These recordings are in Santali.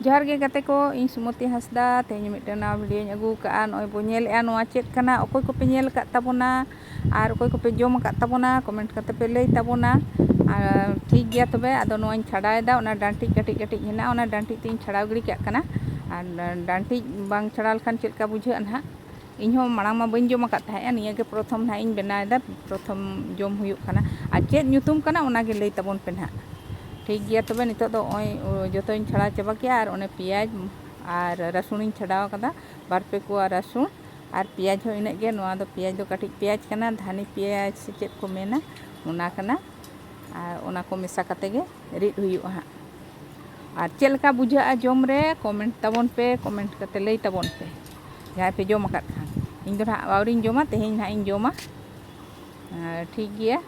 ᱡᱚᱦᱟᱨ ᱜᱮ ᱜᱟᱛᱮ ᱠᱚ ᱤᱧ ᱥᱩᱢᱚᱛᱤ ᱦᱟᱸᱥᱫᱟ ᱛᱮᱦᱮᱧ ᱢᱤᱫᱴᱟᱝ ᱱᱟᱣᱟ ᱵᱷᱤᱰᱤᱭᱳᱧ ᱟᱹᱜᱩ ᱟᱠᱟᱫᱼᱟ ᱱᱚᱜᱼᱚᱭ ᱵᱚ ᱧᱮᱞᱮᱫᱼᱟ ᱱᱚᱣᱟ ᱪᱮᱫ ᱠᱟᱱᱟ ᱚᱠᱚᱭ ᱠᱚᱯᱮ ᱧᱮᱞ ᱟᱠᱟᱫ ᱛᱟᱵᱚᱱᱟ ᱟᱨ ᱚᱠᱚᱭ ᱠᱚᱯᱮ ᱡᱚᱢ ᱟᱠᱟᱫ ᱛᱟᱵᱚᱱᱟ ᱠᱚᱢᱮᱱᱴ ᱠᱟᱛᱮ ᱯᱮ ᱞᱟᱹᱭ ᱛᱟᱵᱚᱱᱟ ᱟᱨ ᱴᱷᱤᱠ ᱜᱮᱭᱟ ᱛᱚᱵᱮ ᱟᱫᱚ ᱱᱚᱣᱟᱧ ᱪᱷᱟᱰᱟᱣᱮᱫᱟ ᱚᱱᱟ ᱰᱟᱱᱴᱤᱡ ᱠᱟᱹᱴᱤᱡ ᱠᱟᱹᱴᱤᱡ ᱦᱮᱱᱟᱜᱼᱟ ᱚᱱᱟ ᱰᱟᱱᱴᱤᱡ ᱛᱮᱧ ᱪᱷᱟᱲᱟᱣ ᱜᱤᱰᱤ ᱠᱟᱜ ᱠᱟᱱᱟ ᱟᱨ ᱰᱟᱱᱴᱤᱡ ᱵᱟᱝ ᱪᱷᱟᱲᱟᱣ ᱞᱮᱠᱷᱟᱱ ᱪᱮᱫ ᱞᱮᱠᱟ ᱵᱩᱡᱷᱟᱹᱜᱼᱟ ᱱᱟᱦᱟᱜ ᱤᱧ ᱦᱚᱸ ᱢᱟᱲᱟᱝ ᱢᱟ ᱵᱟᱹᱧ ᱡᱚᱢ ᱟᱠᱟᱫ ᱛᱟᱦᱮᱸᱫ ᱱᱤᱭᱟᱹ ᱜᱮ ᱯᱨᱚᱛᱷᱚᱢ ᱱᱟᱦᱟᱜ ᱤᱧ ᱵᱮᱱᱟᱣ ᱮᱫᱟ ᱯᱨᱚᱛᱷᱚᱢ ᱡᱚᱢ ᱦᱩᱭᱩᱜ ᱠᱟᱱᱟ ᱟᱨ ᱪᱮᱫ ᱧᱩᱛᱩᱢ ᱠᱟᱱᱟ ᱚᱱᱟ ᱜᱮ ᱞᱟᱹᱭ ᱛᱟᱵᱚᱱ ᱯᱮ ᱱᱟᱦᱟᱜ ᱴᱷᱤᱠ ᱜᱮᱭᱟ ᱛᱚᱵᱮ ᱱᱤᱛᱚᱜ ᱫᱚ ᱱᱚᱜᱼᱚᱭ ᱡᱚᱛᱚᱧ ᱪᱷᱟᱲᱟᱣ ᱪᱟᱵᱟ ᱠᱮᱜᱼᱟ ᱟᱨ ᱚᱱᱮ ᱯᱮᱸᱭᱟᱡᱽ ᱟᱨ ᱨᱟᱹᱥᱩᱱ ᱤᱧ ᱪᱷᱟᱰᱟᱣ ᱟᱠᱟᱫᱟ ᱵᱟᱨ ᱯᱮ ᱠᱚᱣᱟ ᱨᱟᱹᱥᱩᱱ ᱟᱨ ᱯᱮᱸᱭᱟᱡᱽ ᱦᱚᱸ ᱤᱱᱟᱹᱜ ᱜᱮ ᱱᱚᱣᱟ ᱫᱚ ᱯᱮᱸᱭᱟᱡᱽ ᱫᱚ ᱠᱟᱹᱴᱤᱡ ᱯᱮᱸᱭᱟᱡᱽ ᱠᱟᱱᱟ ᱫᱷᱟᱹᱱᱤ ᱯᱮᱸᱭᱟᱡᱽ ᱥᱮ ᱪᱮᱫ ᱠᱚ ᱢᱮᱱᱟ ᱚᱱᱟ ᱠᱟᱱᱟ ᱟᱨ ᱚᱱᱟ ᱠᱚ ᱢᱮᱥᱟ ᱠᱟᱛᱮ ᱜᱮ ᱨᱤᱫ ᱦᱩᱭᱩᱜᱼᱟ ᱦᱟᱸᱜ ᱟᱨ ᱪᱮᱫ ᱞᱮᱠᱟ ᱵᱩᱡᱷᱟᱹᱜᱼᱟ ᱡᱚᱢ ᱨᱮ ᱠᱚᱢᱮᱱᱴ ᱛᱟᱵᱚᱱ ᱯᱮ ᱠᱚᱢᱮᱱᱴ ᱠᱟᱛᱮ ᱞᱟᱹᱭ ᱛᱟᱵᱚᱱ ᱯᱮ ᱡᱟᱦᱟᱸᱭ ᱯᱮ ᱡᱚᱢ ᱟᱠᱟᱫ ᱠᱷᱟᱱ ᱤᱧ ᱫᱚ ᱱᱟᱦᱟᱜ ᱟᱹᱣᱨᱤᱧ ᱡᱚᱢᱟ ᱛᱮᱦᱮᱧ ᱱᱟᱦᱟᱜ ᱤᱧ ᱡᱚᱢᱟ ᱴᱷᱤᱠ ᱜᱮᱭᱟ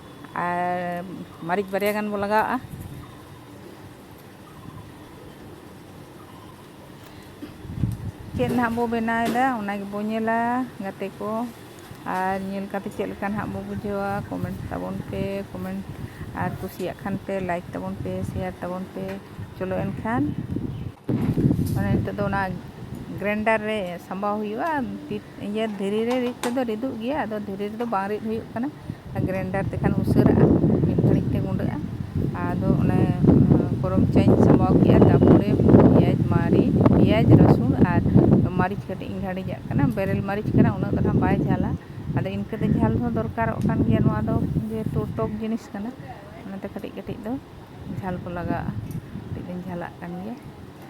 ᱟᱨ ᱢᱟᱹᱨᱤᱪ ᱵᱟᱨᱭᱟ ᱜᱟᱱ ᱵᱚ ᱞᱟᱜᱟᱣᱟᱜᱼᱟ ᱪᱮᱫ ᱱᱟᱦᱟᱜ ᱵᱚ ᱵᱮᱱᱟᱣᱮᱫᱟ ᱚᱱᱟ ᱜᱮᱵᱚ ᱧᱮᱞᱟ ᱜᱟᱛᱮ ᱠᱚ ᱟᱨ ᱧᱮᱞ ᱠᱟᱛᱮ ᱪᱮᱫ ᱞᱮᱠᱟ ᱱᱟᱦᱟᱜ ᱵᱚ ᱵᱩᱡᱷᱟᱹᱣᱟ ᱠᱚᱢᱮᱱᱴ ᱛᱟᱵᱚᱱ ᱯᱮ ᱠᱚᱢᱮᱱᱴ ᱟᱨ ᱠᱩᱥᱤᱭᱟᱜ ᱠᱷᱟᱱ ᱯᱮ ᱞᱟᱭᱤᱠ ᱛᱟᱵᱚᱱ ᱯᱮ ᱥᱮᱭᱟᱨ ᱛᱟᱵᱚᱱ ᱯᱮ ᱪᱚᱞᱚ ᱮᱱᱠᱷᱟᱱ ᱢᱟᱱᱮ ᱱᱤᱛᱚᱜ ᱫᱚ ᱚᱱᱟ ᱜᱨᱮᱱᱰᱟᱨ ᱨᱮ ᱥᱟᱢᱵᱟᱣ ᱦᱩᱭᱩᱜᱼᱟ ᱤᱭᱟᱹ ᱫᱷᱤᱨᱤ ᱨᱮ ᱨᱤᱫ ᱛᱮᱫᱚ ᱨᱤᱫᱚᱜ ᱜᱮᱭᱟ ᱟᱫᱚ ᱫᱷᱤᱨᱤ ᱨᱮᱫᱚ ᱵᱟᱝ ᱨᱤᱫ ᱦᱩᱭᱩᱜ ᱠᱟᱱᱟ ᱟᱨ ᱜᱨᱮᱱᱰᱟᱨ ᱛᱮᱠᱷᱟᱱ ᱩᱥᱟᱹᱨᱟᱜᱼᱟ ᱢᱤᱫ ᱜᱷᱟᱹᱲᱤᱡ ᱛᱮ ᱜᱩᱰᱟᱹᱜᱼᱟ ᱟᱫᱚ ᱚᱱᱮ ᱯᱷᱚᱨᱚᱢ ᱪᱟᱧ ᱥᱟᱸᱵᱟᱣ ᱠᱮᱫᱼᱟ ᱛᱟᱨᱯᱚᱨᱮ ᱯᱮᱸᱭᱟᱡᱽ ᱢᱟᱹᱨᱤᱪ ᱯᱮᱸᱭᱟᱡᱽ ᱨᱟᱹᱥᱩᱱ ᱟᱨ ᱢᱟᱹᱨᱤᱪ ᱠᱟᱹᱴᱤᱡ ᱤᱧ ᱜᱷᱟᱹᱲᱤᱡᱟᱜ ᱠᱟᱱᱟ ᱵᱮᱨᱮᱞ ᱢᱟᱹᱨᱤᱪ ᱠᱟᱱᱟ ᱩᱱᱟᱹᱜ ᱫᱚ ᱦᱟᱸᱜ ᱵᱟᱭ ᱡᱷᱟᱞᱟ ᱟᱫᱚ ᱤᱱᱠᱟᱹ ᱫᱚ ᱡᱷᱟᱞ ᱦᱚᱸ ᱫᱚᱨᱠᱟᱨᱚᱜ ᱠᱟᱱ ᱜᱮᱭᱟ ᱱᱚᱣᱟ ᱫᱚ ᱡᱮᱦᱮᱛᱩ ᱴᱚᱠ ᱡᱤᱱᱤᱥ ᱠᱟᱱᱟ ᱚᱱᱟᱛᱮ ᱠᱟᱹᱴᱤᱡ ᱠᱟᱹᱴᱤᱡ ᱫᱚ ᱡᱷᱟᱞ ᱠᱚ ᱞᱟᱜᱟᱣᱟᱜᱼᱟ ᱠᱟᱹᱴᱤᱡ ᱫᱚᱧ ᱡᱷᱟᱞᱟᱜ ᱠᱟᱱ ᱜᱮᱭᱟ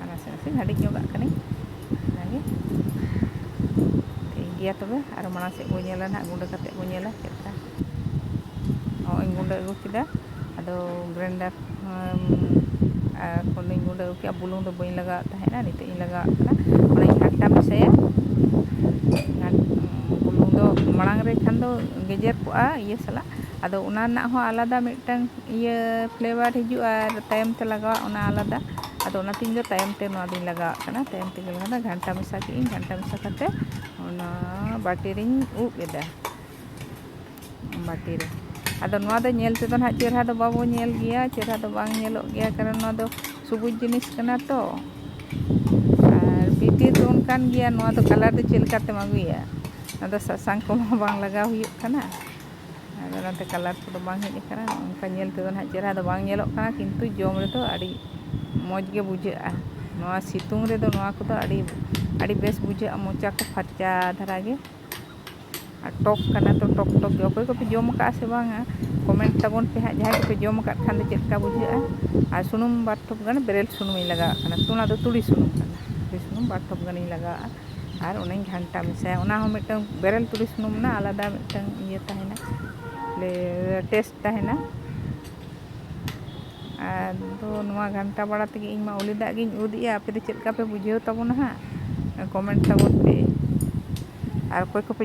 ᱟᱨ ᱱᱟᱥᱮ ᱱᱟᱥᱮ ᱞᱟᱹᱰᱤ ᱧᱚᱜᱟᱜ ᱠᱟᱹᱱᱟᱹᱧ ᱚᱱᱟᱜᱮ ᱴᱷᱤᱠ ᱜᱮᱭᱟ ᱛᱚᱵᱮ ᱟᱨ ᱢᱟᱲᱟᱝ ᱥᱮᱫ ᱵᱚᱱ ᱧᱮᱞᱟ ᱱᱟᱦᱟᱜ ᱜᱩᱸᱰᱟᱹ ᱠᱟᱛᱮᱫ ᱵᱚᱱ ᱧᱮᱞᱟ ᱪᱮᱫ ᱞᱮᱠᱟ ᱱᱚᱜᱼᱚᱭ ᱜᱩᱸᱰᱟᱹ ᱟᱹᱜᱩ ᱠᱮᱫᱟ ᱟᱫᱚ ᱜᱨᱮᱱᱰᱟᱨ ᱟᱨ ᱠᱷᱚᱱᱤᱧ ᱜᱩᱸᱰᱟᱹ ᱟᱹᱜᱩ ᱠᱮᱫᱟ ᱵᱩᱞᱩᱝ ᱫᱚ ᱵᱟᱹᱧ ᱞᱟᱜᱟᱣᱮᱫ ᱛᱟᱦᱮᱱᱟ ᱱᱤᱛᱚᱜ ᱤᱧ ᱞᱟᱜᱟᱣᱟᱜ ᱠᱟᱱᱟ ᱚᱱᱟᱧ ᱜᱷᱟᱱᱴᱟ ᱢᱮᱥᱟᱭᱟ ᱵᱩᱞᱩᱝ ᱫᱚ ᱢᱟᱲᱟᱝ ᱨᱮ ᱠᱷᱟᱱ ᱫᱚ ᱜᱮᱡᱮᱨ ᱠᱚᱜᱼᱟ ᱤᱭᱟᱹ ᱥᱟᱞᱟᱜ ᱟᱫᱚ ᱚᱱᱟ ᱨᱮᱱᱟᱜ ᱦᱚᱸ ᱟᱞᱟᱫᱟ ᱢᱤᱫᱴᱟᱝ ᱤᱭᱟᱹ ᱯᱷᱞᱮᱵᱟᱨ ᱦᱤᱡᱩᱜᱼᱟ ᱟᱨ ᱛᱟᱭᱚᱢ ᱛᱮ ᱞᱟᱜᱟᱣᱟᱜ ᱚᱱᱟ ᱟᱞᱟᱫᱟ ᱟᱫᱚ ᱚᱱᱟᱛᱮ ᱤᱧ ᱫᱚ ᱛᱟᱭᱚᱢ ᱛᱮ ᱱᱚᱣᱟ ᱫᱚᱧ ᱞᱟᱜᱟᱣᱟᱜ ᱠᱟᱱᱟ ᱛᱟᱭᱚᱢ ᱛᱮᱜᱮ ᱞᱟᱜᱟᱣ ᱫᱚ ᱜᱷᱟᱱᱴᱟ ᱢᱮᱥᱟ ᱠᱮᱫ ᱟᱹᱧ ᱜᱷᱟᱱᱴᱟ ᱢᱮᱥᱟ ᱠᱟᱛᱮ ᱚᱱᱟ ᱵᱟᱹᱴᱤ ᱨᱤᱧ ᱩᱵ ᱮᱫᱟ ᱵᱟᱹᱴᱤ ᱨᱮ ᱟᱫᱚ ᱱᱚᱣᱟ ᱫᱚ ᱧᱮᱞ ᱛᱮᱫᱚ ᱱᱟᱦᱟᱜ ᱪᱮᱦᱨᱟ ᱫᱚ ᱵᱟᱵᱚ ᱧᱮᱞ ᱜᱮᱭᱟ ᱪᱮᱦᱨᱟ ᱫᱚ ᱵᱟᱝ ᱧᱮᱞᱚᱜ ᱜᱮᱭᱟ ᱠᱟᱨᱚᱱ ᱱᱚᱣᱟ ᱫᱚ ᱥᱩᱵᱩᱡᱽ ᱡᱤᱱᱤᱥ ᱠᱟᱱᱟ ᱛᱚ ᱟᱨ ᱵᱷᱤᱛᱤᱨ ᱫᱚ ᱚᱱᱠᱟᱱ ᱜᱮᱭᱟ ᱱᱚᱣᱟ ᱫᱚ ᱠᱟᱞᱟᱨ ᱫᱚ ᱪᱮᱫ ᱞᱮᱠᱟᱛᱮᱢ ᱟᱹᱜᱩᱭᱟ ᱱᱚᱣᱟ ᱫᱚ ᱥᱟᱥᱟᱝ ᱠᱚᱦᱚᱸ ᱵᱟᱝ ᱞᱟᱜᱟᱣ ᱦᱩᱭᱩᱜ ᱠᱟᱱᱟ ᱟᱫᱚ ᱚᱱᱟᱛᱮ ᱠᱟᱞᱟᱨ ᱠᱚᱫᱚ ᱵᱟᱝ ᱦᱮᱡ ᱟᱠᱟᱱᱟ ᱚᱱᱠᱟ ᱧᱮᱞ ᱛᱮᱫᱚ ᱱᱟᱦᱟᱜ ᱪᱮᱦᱨᱟ ᱫᱚ ᱵᱟᱝ ᱧᱮᱞᱚᱜ ᱠᱟᱱᱟ ᱠᱤᱱᱛᱩ ᱡᱚᱢ ᱨᱮᱫᱚ ᱟᱹᱰᱤ ᱢᱚᱡᱽ ᱜᱮ ᱵᱩᱡᱷᱟᱹᱜᱼᱟ ᱱᱚᱣᱟ ᱥᱤᱛᱩᱝ ᱨᱮᱫᱚ ᱱᱚᱣᱟ ᱠᱚᱫᱚ ᱟᱹᱰᱤ ᱟᱹᱰᱤ ᱵᱮᱥ ᱵᱩᱡᱷᱟᱹᱜᱼᱟ ᱢᱚᱪᱟ ᱠᱚ ᱯᱷᱟᱨᱪᱟ ᱫᱷᱟᱨᱟ ᱜᱮ ᱟᱨ ᱴᱚᱠ ᱠᱟᱱᱟ ᱛᱚ ᱴᱚᱠ ᱴᱚᱠ ᱜᱮ ᱚᱠᱚᱭ ᱠᱚᱯᱮ ᱡᱚᱢ ᱟᱠᱟᱫᱼᱟ ᱥᱮ ᱵᱟᱝᱟ ᱠᱚᱢᱮᱱᱴ ᱛᱟᱵᱚᱱ ᱯᱮ ᱦᱟᱸᱜ ᱡᱟᱦᱟᱸᱭ ᱠᱚᱯᱮ ᱡᱚᱢ ᱟᱠᱟᱫ ᱠᱷᱟᱱ ᱫᱚ ᱪᱮᱫ ᱞᱮᱠᱟ ᱵᱩᱡᱷᱟᱹᱜᱼᱟ ᱟᱨ ᱥᱩᱱᱩᱢ ᱵᱟᱨ ᱴᱷᱚᱯ ᱜᱟᱱ ᱵᱮᱨᱮᱞ ᱥᱩᱱᱩᱢᱤᱧ ᱞᱟᱜᱟᱣᱟᱜ ᱠᱟᱱᱟ ᱚᱱᱟ ᱫᱚ ᱛᱩᱲᱤ ᱥᱩᱱᱩᱢ ᱠᱟᱱᱟ ᱛᱩᱲᱤ ᱥᱩᱱᱩᱢ ᱵᱟᱨ ᱴᱷᱚᱯ ᱜᱟᱱᱤᱧ ᱞᱟᱜᱟᱣᱟᱜᱼᱟ ᱟᱨ ᱚᱱᱟᱧ ᱜᱷᱟᱱᱴᱟ ᱢᱮᱥᱟᱭᱟ ᱚᱱᱟ ᱦᱚᱸ ᱢᱤᱫᱴᱟᱹᱝ ᱵᱮᱨᱮᱞ ᱛᱩᱲᱤ ᱥᱩᱱᱩᱢ ᱨᱮᱱᱟᱜ ᱟᱞᱟᱫᱟ ᱢᱤᱫᱴᱟᱹᱝ ᱤᱭᱟᱹ ᱛᱟᱦᱮᱱᱟ ᱴᱮᱥᱴ ᱛᱟᱦᱮᱱᱟ ᱟᱫᱚ ᱱᱚᱣᱟ ᱜᱷᱟᱱᱴᱟ ᱵᱟᱲᱟ ᱛᱮᱜᱮ ᱤᱧ ᱢᱟ ᱩᱞᱤ ᱫᱟᱜ ᱜᱤᱧ ᱩᱫ ᱮᱜᱼᱟ ᱟᱯᱮ ᱫᱚ ᱪᱮᱫ ᱞᱮᱠᱟ ᱯᱮ ᱵᱩᱡᱷᱟᱹᱣ ᱛᱟᱵᱚᱱᱟ ᱦᱟᱸᱜ ᱠᱚᱢᱮᱱᱴ ᱛᱟᱵᱚᱱ ᱯᱮ ᱟᱨ ᱚᱠᱚᱭ ᱠᱚᱯᱮ